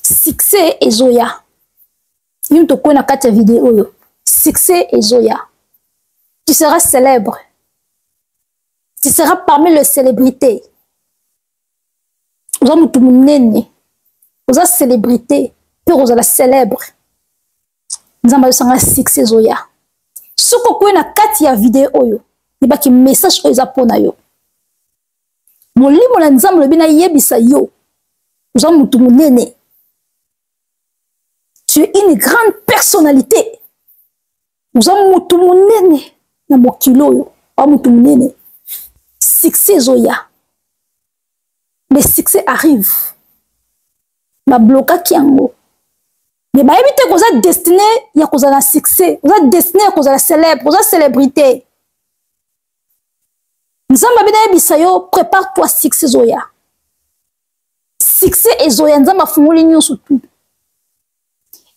succès ezoya bino tokwei na kati ya video oyo succès ezoya tu seras célèbre tu seras parmi le célébrité oza motu monene oza célébrité mpe okozala célèbre nzambe ayosanga succès ezoya soki okwei na kati ya video oyo yebaki message oyo eza mpo na yo molimo na nzambe olobi nayebisa yo oza motu monene tu es une grande personnalité oza motu monene na mokili oyo oa motu monene succès ezoya le succès arrive bablokaki yango me bayebi te koza destine ya kozala na succès oza destine ya kozala célèbre oza célébrité nzambe abi nayebisa yo prépare toi succès ezoya succès ezoya nzambe afungoli nyonso tu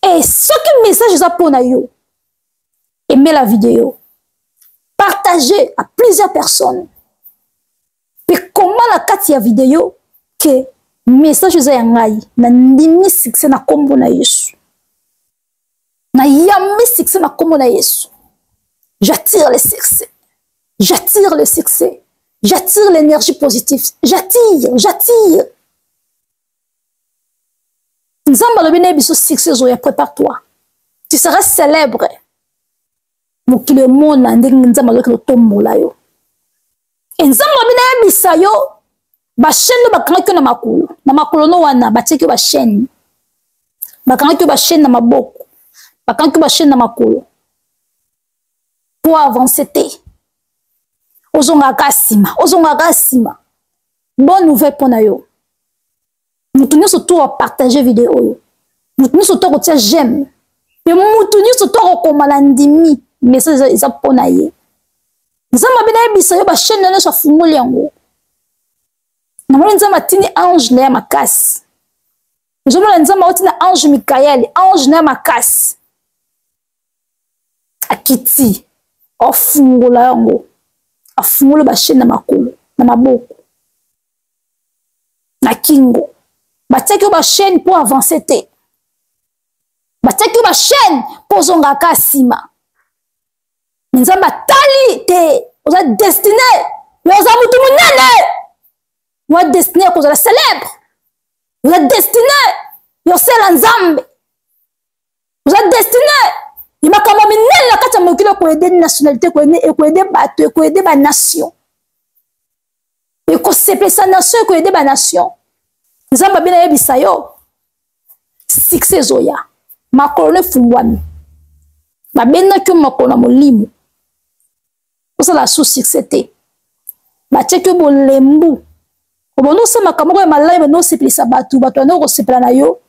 e soki message eza mpo na yo emela video partage à plusieurs personnes mpe koma na kati ya video ke message eza ya ngai nandimi succès na nkombo na yesu nayambi succès na nkombo na yesu j'attire le succès j'attire le succès j'attire l'énergie positive j'attire j'attire nzambe alobi na ye biso succès ezoya prépare toi tu seras célèbre mokili emona ndenge nzambe azokende otombola yo e nzambe alobi nayebisa yo bachaine oyo bakangaki yo na makolo na makolo no wana batiaki yo bachaine bakangaki yo bachaine na maboko bakangaki yo bachaine na makolo po avance te ozongaka nsima ozongaka nsima bonne nouvelle mpo na yo moto nyonso to apartage video oyo moto nyonso to akotia j'aime mpe moto nyonso to akokoma na ndimi message eza mpo na ye nzambe abe nayebisa yo bachaine na nyonso afungoli yango namoni nzambe atindi ange na ya makasi ozomona nzambe auti na ange mikael ange na ya makasi akiti afungola yango afungoli bachaine na makolo na maboko na kingo batiaki yo bachaine mpo avance te batiaki yo bachaine mpo ozongaka nsima me nzambe atali te oza destine yo oza motu monene oza destine ya kozala célèbre oza destine yosala nzambe oza destine ya makambo minene na kati ya mokili ekoyede nationalité ekoyede bato ekoyede banation ekosepelisa nation ekoyede banation nzambe abe nayebisa yo sikse ezoya makolo no efungwami babendaki yo makolo na molimo osala su sikse te batiaki yo bolembu obanda osala makambo moko ya malai banda osepelisa bato bato banda okosepela na yo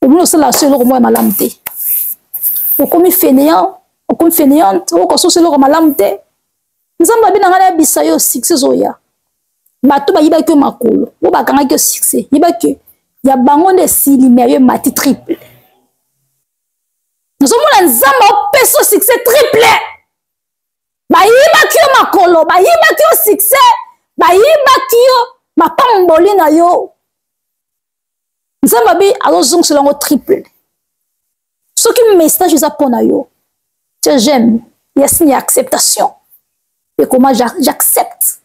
omoni osala so eloko moko ya malamu te okomi fainéant okomi fainéante okososo eloko malamu te nzambe abi na ngai nayebisa yo succès ezoya bato bayibaki yo makolo oyo bakangaki yo succès yebaki ya bango nde esili me yo emati triple nazomona nzambe opesa yo succès triple bayibaki yo makolo bayibaki yo succès bayibaki yo mapamboli na yo nzambe abi azozongisela yango triple soki message eza mpo na yo tia j'aime ya signe ya acceptation ekoma j'accepte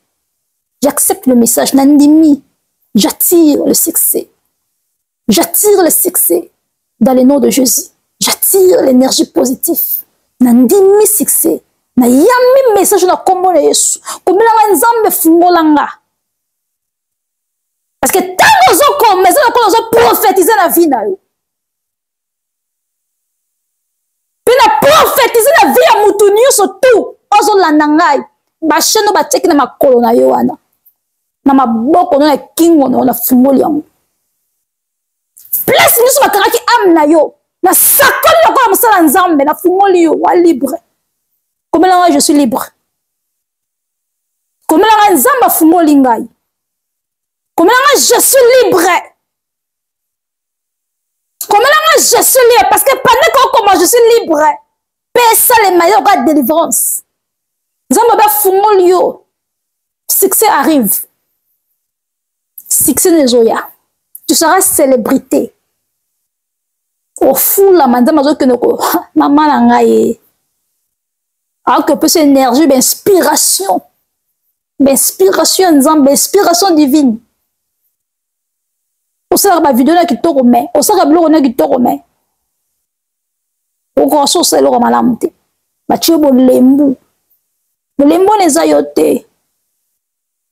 j'accepte le message nandimi j'attire le succès j'attire le succès dans le nom de jésus j'attire l'énergie positive nandimi succès nayambi message na nkombo na yesu komelanga nzambe fungola nga parce que ntango ozokoma eza lokola ozoprofetize na vie na yo mpe na profetize na vie ya motu nyonso tu ozolanda ngai bashene oyo batiaki na makolo na yo wana na maboko no na kingo na yo na fungoli yango place nyonso bakangaki ame na yo na sakoli lokola mosala nzambe na fungoli yo wa libre komelanga je suis libre komela nga nzambe afungoli ngai komela nga je suis libre komela nga je suis libre parce que pendant kokoma je suis libre mpe esalema yo oka délivrance nzambe obe afungoli yo succès arrive succès nezoya tu seras célébrité ofulama nzambe azokende ko mama na ngai ye akoki kopesa énergie bainspiration bainspiration ya nzambe inspiration divine osalaka bavideo na kitoko me osalaka biloko na kitoko me okoka so osala eloko malamu te batye bolembu bolembu wana eza yo te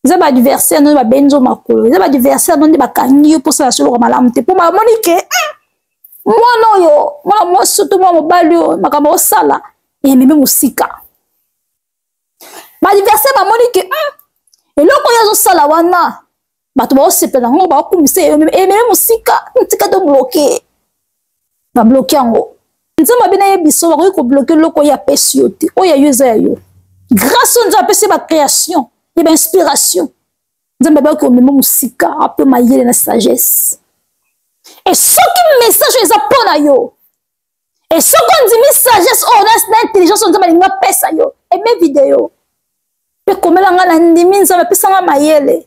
eza ba adversaire nde babendi nzo makolo eza ba adversaire nde nde bakangi yo mposa ya soloka malamu te mpo bamoni ke hmm, mwana oyo mwana mwasi to mwana mobali oyo makambo osala ememi mosika ba adversaire bamoni ke hmm, eloko oyo azosala wana bato baosepela yango baokumisa ememi mosika ntika tobloke babloke yango nzambe abe nayebisa yo bakoki kobloke eloko oyo apesi yo te oyo ya yo eza ya yo grâce oyo nzambe apesi ye bacréation ya bainspiration nzambe abaki komema mosika ape mayele na sagesse e soki message oyo eza mpo na yo e soki ondimi sagesse oyo na intelligence oyo nzambe alingi apesa yo eme video mpe komela ngai na ndimi nzambe apesa ngai mayele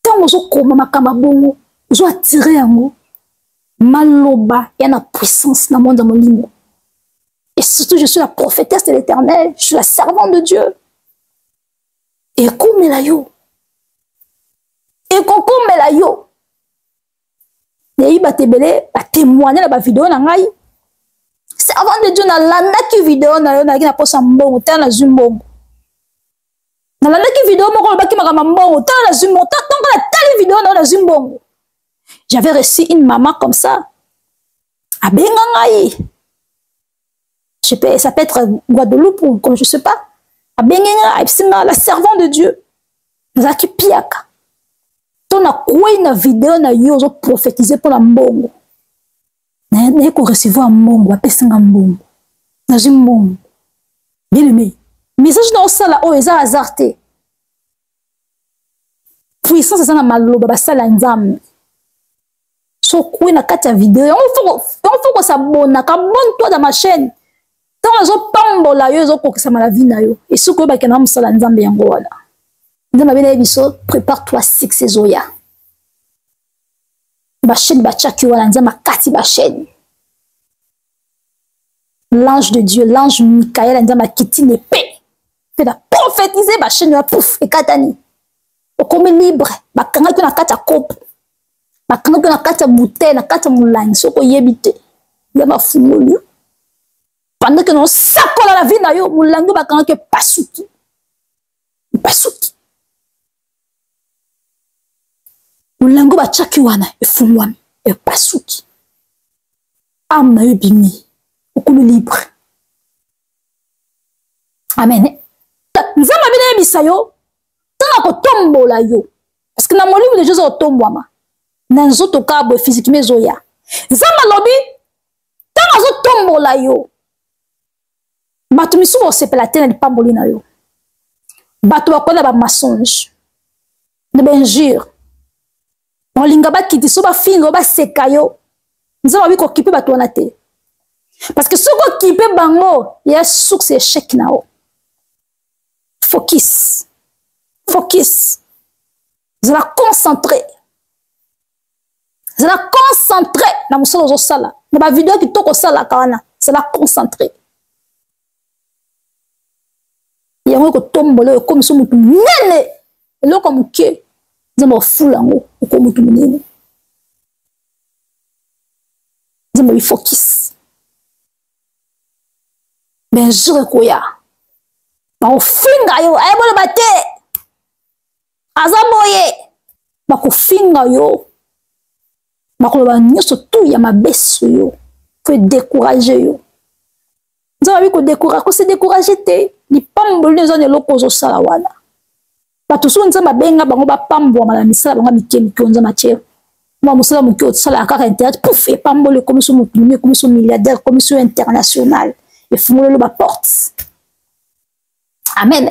ntango ozokoma makambo ya bongo ozo attire yango maloba ya na puissance na monde ya molimo et surtout je suis la prophétesse de l'éternel je suis la servante de dieu ekomela yo ekokomela yo nayebi bato ebele batemoigne na bavideo na ngai servante de dieu nalandaki video na yo nalaki na mposa mbongo tala nazwi mbongo nalandaki video moko olobaki makambo ya mbongo ntango nazwi mbongo ntango natali video na yo nazwi mbongo j'avais reçu une maman comme ça abenga ngai je peux, ça peut être guadeloupe ou comme je sais pas abengi ngai ayebisi ngai la servant de dieu nazalaki piaka to nakwei na video na yo ozoprofetize mpo na mbongo naye korecevoir mbongo bapesi nga mbongo nazwi mbongo bien aimé message na osala oyo eza hasard te puissance eza na maloba basali ya nzambe sokwe na kati ya video yango fo kosabona kabone toi da ma chaîne ntango azopambola yo ezokokisama na vie na yo esoki oyebaki na mosala nzambe yango wana nzambe abela ye biso prépare toi six ezoya basheni batiaki wana nzambe akati basheni l'ange de dieu l'ange mikael nzambe akiti na epe mpe na profetize basheni ya pouf ekatani okomi libre bakangaki yo na kati ya kopo bakangaki yo na kati ya bouteille na kati ya molangi soki oyebi te ya bafungoli yo pendant ke naosakola na vie na yo molangi oyo bakangaki epasuki epasuki molango batyaki wana efungwami epasuki ame na yo ebimi okulu libre amen nzambe abina yebisa yo ntango akotombola yo parceke na molimo deja oza kotombwama na nzoto kaka boye fizikima ezoya nzambe alobi ntango azotombola yo bato misusu bakosepela te na lipamboli na yo bato bakoya na bamensonge na bainjure bakolinga bakiti so bafinga yo baseka yo nzambe abi kokipe bato wana te parce que soki okipe bango ya source ya echec na yo focus focus zala concentré zala concentre na mosala ozosala na bavideo kitoko osalaka wana zala concentre yango ekotombola oyo ekomisa motu monene eloko ya moke nzambe ofula yango okomi motu monene nzambe bifokisi benjour ekoya bakofinga yo ayeboloba te aza boye bakofinga yo bakoloba nyonso tu ya mabe so yo po edécourage yo nzambe abi kodécourage kose décourage te lipamboli eza na eloko ozosala wana bato soki nzambe abenga bango bapambwama na misala bango mike mike o nzambe atie mwa mosala moke osalaka kaka internet puf epamboli ekomi so moto mimi ekomi so milliardaire ekomi so international efungolelo baporte amen